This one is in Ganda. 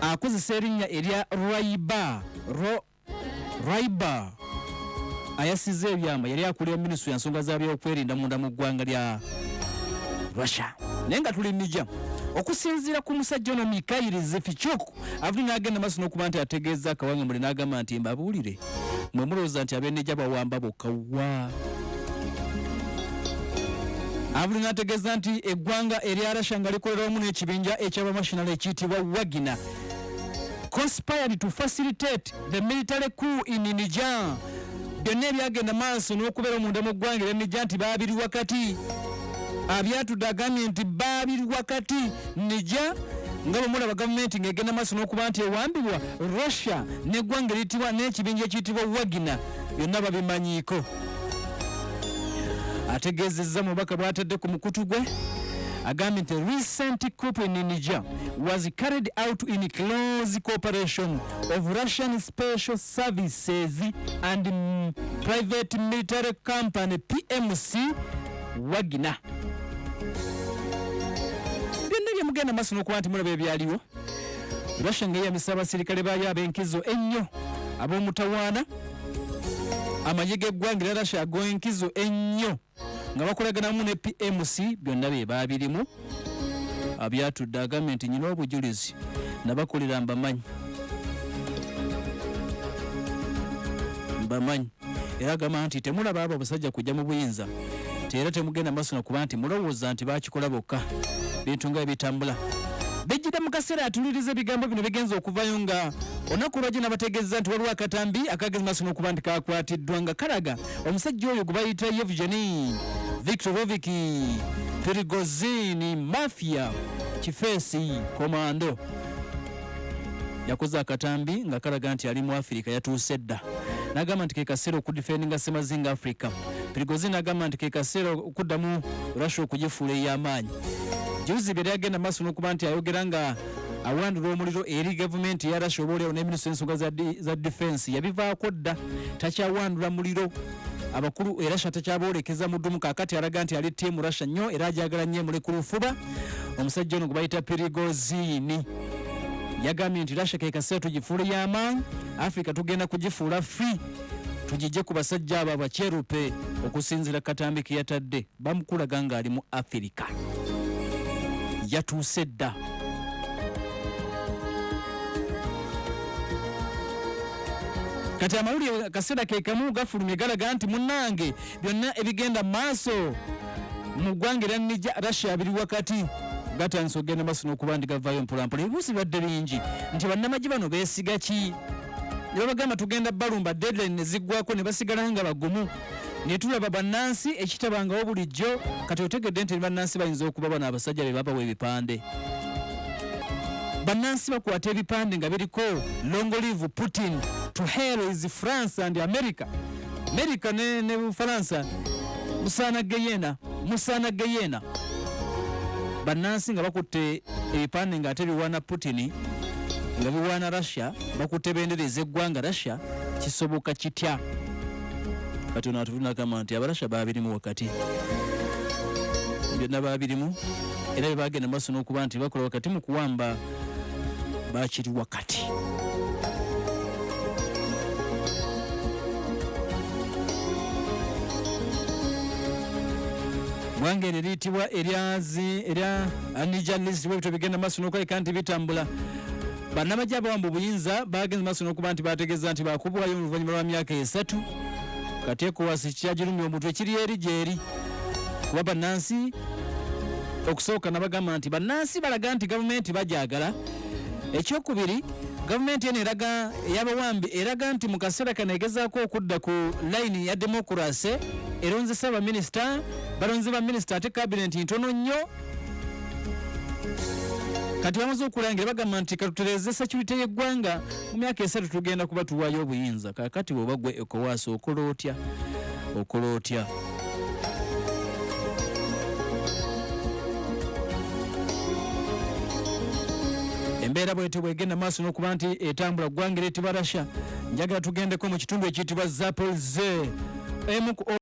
akozesa erinnya erya raiba raiba ayasiza ebyama yali akulira minisitule ya nsonga za byokwerinda munda mu ggwanga lya russia naye nga tuli mija okusinziira ku musajja ono mikayiri zifichuk avuli n'agenda maaso n'okuba nti ategeeza akawanga muli n'agamba nti mbabuulire mwe mulowooza nti abeneja bawamba bokka wa abuli n'ategeeza nti eggwanga erya russia nga likolera wamu n'ekibinja eky'abamational ekiyitibwa wagina conspired to facilitate the military coup in niger byonna ebyagenda maaso n'okubeera omunda mu ggwanga erya niger nti baabiri wakati abyatudde agambye nti baabiri wakati nija nga bwe mulaba gavumenti ng'egenda maaso n'okuba nti ewambibwa russia n'eggwanga eritibwa n'ekibinja ekiyitibwa wagina byonna babimanyiiko ategeezezza mubaka bw'atadde ku mukutu gwe agambye nti recent coup in niger was carried out in close cooperation of russian special services and mm, private military company pmc wagina byonna byemugenda maaso n'okuba nti mulaba ebyaliwo russia nga eyamisa abaserikale baayo ab'enkizo ennyo ab'omutawaana amagye g'eggwanga era russia ag'enkizo ennyo nga bakolaganamu ne pmc byonna bye baabirimu abyatudde agambye nti nyina obujulizi nabakolera mbamanyi mbamanyi era agamba nti temulaba abo abasajja kujja mu buyinza teera temugenda maaso nakuba nti mulowooza nti bakikola bokka bintu nga ebitambula bijjidde mu kaseera atuliriza ebigambo bino bigenza okuvayo nga olunaku lwajjo nabategeeza nti waliwo akatambi akagezi maaso nokuba nti kakwatiddwa nga kalaga omusajja oyo gwe bayita yevgeni victoroviki pirigozini mafia kifeesi komando yakoze akatambi nga kalaga nti ali mu afirika yatuuse dda n'agamba nti kekaseera okudifendinga semazinga africa prigozi n'agamba nti kekaseera okuddamu russia okugifuula ey'amaanyi juzi byali agenda maaso n'okuba nti ayogera nga awandula omuliro eri gavumenti eya russia obaolyawo ne minisita ensonga za difensi yabivaako dda takyawandula muliro abakulu erasha takyaboolekeza mudumu kakati alaga nti ali tiimu rasha nnyo era agyagala nnyo emuli ku lufuba omusajja ono gwebayita pirigozini yagambye nti rasha kekaseera tugifuula y'amaanyi africa tugenda kugifuula free tugijje ku basajja abo abakyerupe okusinzira katambi ke yatadde bamukulaga ng'ali mu afirika yatuuse dda kati amawulire kaseera kekamu gafulumye galaga nti munnange byonna ebigenda maaso mu ggwanga era nija russia biri wakati gatandise okugenda maaso n'okuba nti gavaayo mpolampola ebibuuzi bibadde bingi nti bannamagye bano beesiga ki ne babagamba tugenda balumba deadline ne ziggwako ne basigala nga bagumu ne tulaba bannansi ekitabangawo bulijjo kati otegedde nti bannansi bayinza okuba bano abasajja be babawa ebipande bannansi bakwata ebipande nga biriko longolive putin to hell is france and america Amerika ne, ne Bufalansa musaana geyena musaana geyena bannansi nga bakutte ebipande nga ate biwaana Putin nga biwaana Russia bakutte bendera ez'eggwanga Russia kisoboka kitya kati ono atuvunagamba nti abarasha babirimu wakati byonna babirimu era bye bagenda maaso n'okuba nti bakola wakati mu kuwamba bakiri wakati bwange ne liyitibwa eryazi erya anija list bwebityo bigenda maaso n'okulabika nti bitambula bannamagye abawamba obuyinza bagenze maaso n'okuba nti bategeeza nti bakubwayo mu luvannyuma lwa myaka esatu kateekowasi kyagirumya omutwe kiri eri gyeri kuba bannansi okusooka nabagamba nti bannansi balaga nti gavumenti bagyagala ekyokubiri gavumenti eno eraga eyabawambi eraga nti mu kaseera kano egezaako okudda ku layini ya demokurase eronzesa abaminisita balonze baminisita ate kabineti ntono nnyo kati bamaze okulangira bagamba nti katutereze security y'eggwanga mu myaka esatu tugenda kuba tuwaayo obuyinza kakati bwobagwe ekowaaso okola otya okola otya embeera bwetyo bwegenda maaso n'okuba nti etambula ggwanga eryetibwa russia njagala tugendeko mu kitundu ekiyitibwa zapol ze